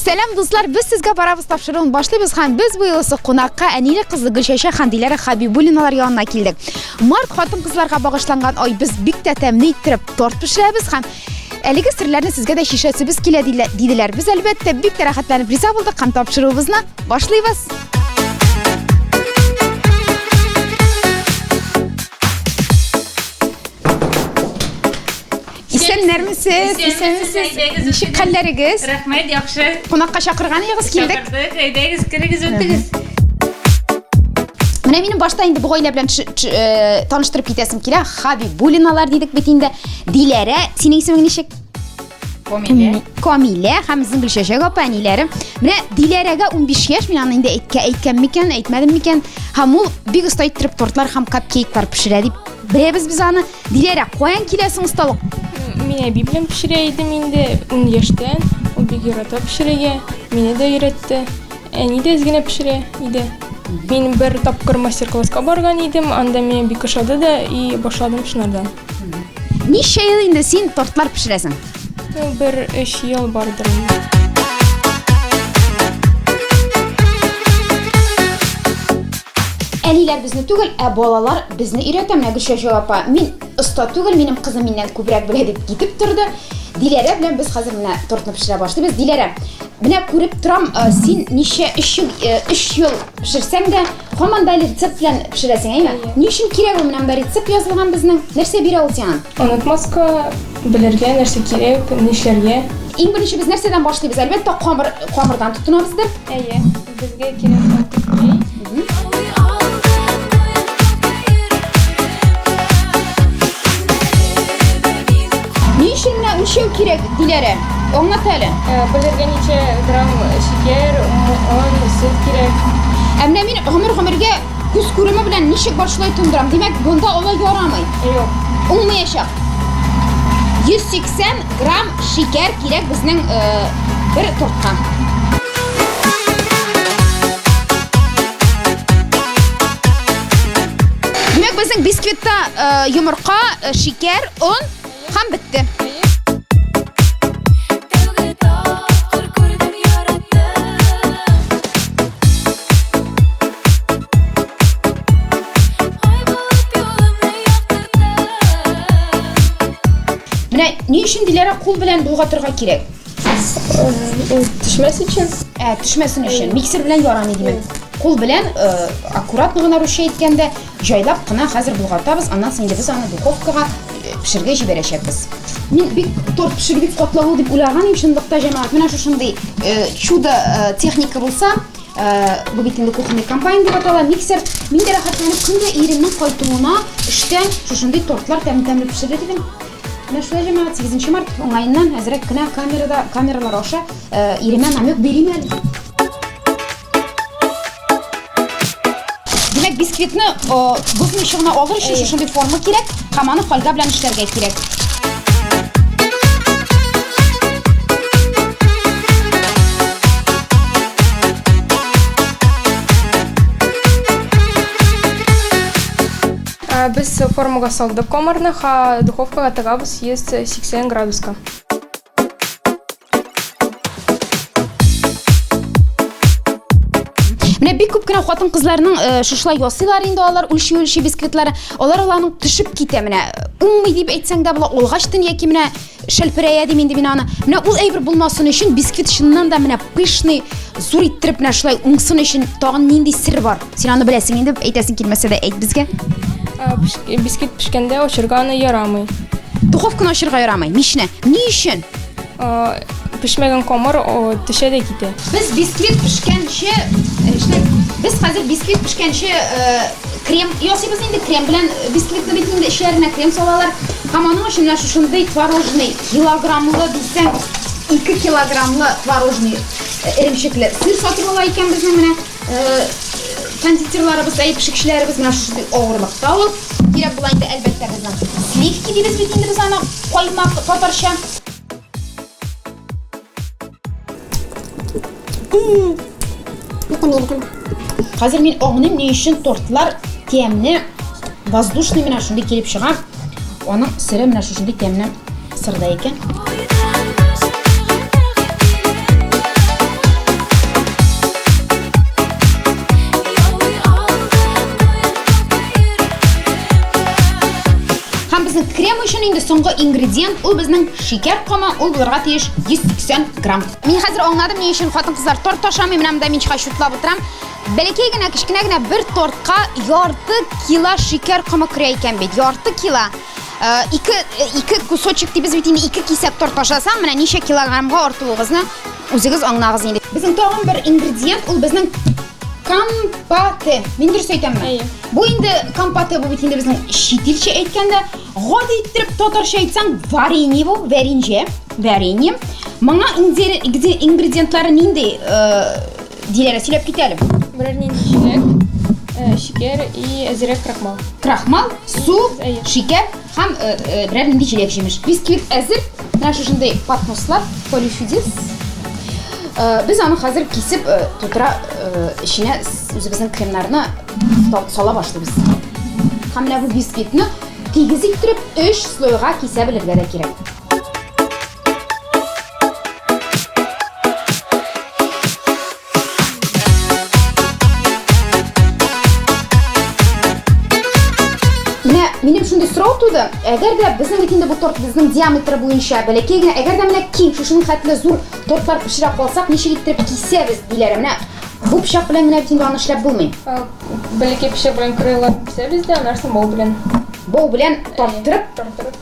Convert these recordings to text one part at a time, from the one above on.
Сәлам дуслар, без сезгә барабыз тапшыруын башлыйбыз һәм без бу юлысы кунакка әниле кызлы Гөлчәчә һәм Диләрә Хабибуллиналар янына килдек. Март хатын-кызларга багышланган ай без бик тә тәмле иттереп торт пешерәбез һәм әлеге серләрне сезгә дә шишәсебез килә диделәр. Без әлбәттә бик тә рәхәтләнеп риза булдык һәм тапшыруыбызны Башлыйбыз! Исәннәрме сез? Исәнме сез? Ничек хәлләрегез? Рәхмәт, яхшы. Кунакка чакырган идегез, килдек. Чакырдык, әйдәгез, керегез, үтегез. Менә минем башта инде бу гаилә белән э, таныштырып китәсем килә. Хаби Булиналар дидек бит инде. Диләрә, синең исемең ничек? Камилә. Камилә һәм безнең Гөлчәчәк апа әниләре. Менә Диләрәгә 15 яшь, мин аны инде әйткә әйткән микән, әйтмәдем микән? Һәм ул бик оста иттереп тортлар һәм капкейклар пешерә дип беләбез без аны. Диләрә, каян киләсең осталык? Мин әби белән пешерә идем инде 10 яшьтән. Ул бик ярата пешерергә. Мине дә өйрәтте. Әни дә изгенә пешерә иде. Мин бер тапкыр мастер-класска барган идем, анда миңа бик ошады да и башладым шунардан. Ничә ел инде син тортлар пешерәсең? Бер өч ел бардыр. Әниләр безне түгел, ә балалар безне өйрәтә. Менә Гөлшәҗә апа, мин оста түгел, минем кызым миннән күбрәк белә дип китеп торды. Диләрә белән без хәзер менә тортны пешерә башлыйбыз. Диләрә, менә күреп торам, э, син ничә өч ел, э, өч ел пешерсәң дә, Хо мондай рецепт белән пешерәсең, әйме? Ни өчен кирәк ул менә монда рецепт язылган безнең? Нәрсә бирә ул сиңа? Онытмаска, белергә, нәрсә кирәк, нишләргә. Иң беренче без нәрсәдән башлыйбыз? Әлбәттә, камыр, камырдан тотынабыз без. Әйе, безгә кирәк Ни өчен менә үлчәү кирәк, Диләрә? Аңлат әле. Э, Белергә ничә грамм шикәр, он, сөт кирәк. Ә менә мин гомер-гомергә күз күреме белән ничек бар шулай тундырам. Димәк, бунда алай ярамый. Юк. Уңмаячак. 180 грамм шикәр кирәк безнең э, бер тортка. Димәк, безнең бисквитта э, йомырка, э, шикәр, он Һәм бетте. Менә ни өчен Диләрә кул белән болгатырга кирәк? Төшмәс өчен. Ә, төшмәсен өчен. Миксер белән ярамый димәк. Кул белән аккуратно гына русча әйткәндә Җайлап кына хәзер болгатабыз, аннан соң инде без аны духовкага пешергә җибәрәчәкбез. Мин бик торт пешерү бик катлаулы дип уйлаган идем, чынлыкта җәмәгать, менә шушындый чудо техника булса, бу бит инде кухонный комбайн дип атала, миксер. Мин дә рәхәтләнеп көн дә иремнең кайтуына эштән шушындый тортлар тәмле-тәмле пешерер идем. Менә шулай җәмәгать, 8 март уңаеннан әзрәк кенә камерада, камералар аша иремә намек бирим әле. Димәк, бисквитны бозны чыгына алыр өчен шушындый форма кирәк, һәм аны фольга белән эшләргә кирәк. Без формага салдык комарны, ха духовкага тыгабыз 180 градуска. Менә бик күп кенә хатын кызларның э, шушылай ясыйлар инде алар үлчи үлчи бисквитлар. Алар аларның төшеп китә менә. Уңмый дип әйтсәң дә була, олгач тын яки менә шәлперәя дим инде мин аны. Менә ул әйбер булмасын өчен бисквит чыннан да менә пышный зур иттереп менә шулай уңсын өчен тагын нинди сер бар? Син аны беләсең инде, әйтәсең килмәсә дә әйт безгә. Бисквит пешкәндә очырганы ярамый. Духовканы ачырга ярамый. Мичне. Ни өчен? Пешмәгән камыр төшә дә китә. Без бисквит пешкәнче, эшне, без хәзер бисквит пешкәнче крем ясыйбыз инде. Крем белән бисквитны бит инде эчләренә крем салалар. Һәм аның өчен менә шушындый творожный килограммлы дисәң, 2 килограммлы творожный эремчекле сыр сатып ала икән безнең менә. Кондитерларыбыз, әй пешекчеләребез менә шушы авырлыкта ул. Кирәк була инде әлбәттә безнең. Сливки дибез бит инде без аны каймак татарча. Хәзер мин аңлыйм ни өчен тортлар тәмне воздушный менә шундый килеп чыга. Аның сире менә шушындый тәмне Сырда икән. Һәм безнең крем өчен инде соңгы ингредиент ул безнең шикәр комы, ул булырга тиеш 180 грамм. Мин хәзер аңладым ни өчен хатын-кызлар торт ашамый, менә монда мин чыга чутлап утырам. Бәләкәй генә кечкенә генә бер тортка ярты кило шикәр комы керә икән бит. Ярты кило. Э, ике э, ике кусочек дибез бит инде ике кисәк торт ашасаң менә ничә килограммга артуыгызны үзегез аңлагыз инде безнең тагын бер ингредиент ул безнең компоты мин дөрес әйтәмме бу инде компоты бу бит инде безнең чит илчә әйткәндә гади иттереп татарча әйтсәң варенье бу варенье варенье моңа ингредиентлары нинди э, Диләрә сөйләп кит әле. Берәр нинди чиләк, э, шикәр и әзерәк крахмал. Крахмал, су, Әйе. шикәр һәм э, э, берәр нинди җиләк җимеш. Бисквит әзер. Менә шушындый поднослар, полифидис. Э, Без аны хәзер кисеп э, тутыра э, эченә с- үзебезнең кремнарны та- сала башлыйбыз. Һәм менә бу бисквитны тигез иттереп 3 слойга кисә белергә дә кирәк. Минем шундый сорау туды. Әгәр дә безнең бит инде бу торт безнең диаметр буенча бәләкәй генә, әгәр дә менә киң шушының хәтле зур тортлар пешерә калсак, ничек иттереп кисәбез диләр. Менә бу пычак белән менә бит инде аны эшләп булмый. Бәләкәй пычак белән кырыйлар кисәбез дә, аннан соң бау белән. Бау белән тарттырып, тарттырып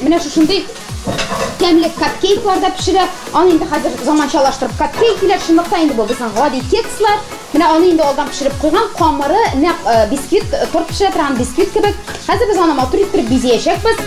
Менә шушындый тәмле капкейклар да пешерә. Аны инде хәзер заманчалаштырып капкейк диләр. Чынлык та инде бу безнең гади кекслар. Менә аны инде алдан пешереп куйган, камыры нәкъ бисквит, торт пешерә торган бисквит кебек. Хәзер без аны матур иттереп бизиячәкбез.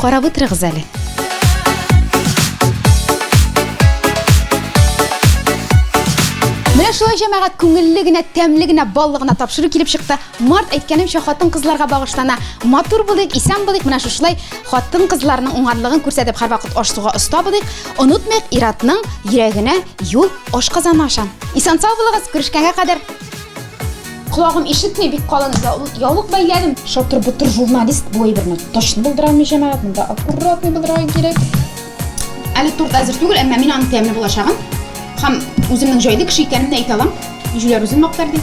Карап утырыгыз әле. Менә шулай җәмәгать күңелле генә, тәмле генә, баллы гына тапшыру килеп чыкты. Март әйткәнемчә хатын-кызларга багышлана. Матур булыйк, исән булыйк, менә шушылай хатын-кызларның уңганлыгын күрсәтеп һәрвакыт аш-суга оста булыйк. Онытмыйк Иратның йөрәгенә юл ашказаны аша. Исән-сау булыгыз, күрешкәнгә кадәр. Колагым ишетми, бик калын яулык бәйләдем. Шатыр-бутыр журналист бу әйберне точно булдыра алмый, җәмәгать. Монда аккуратный булырга кирәк. Әле торт әзер түгел, әмма мин аның тәмле булачагын һәм үземнең җайлы кеше икәнемне әйтә алам. Җүләр үзен мактар ди.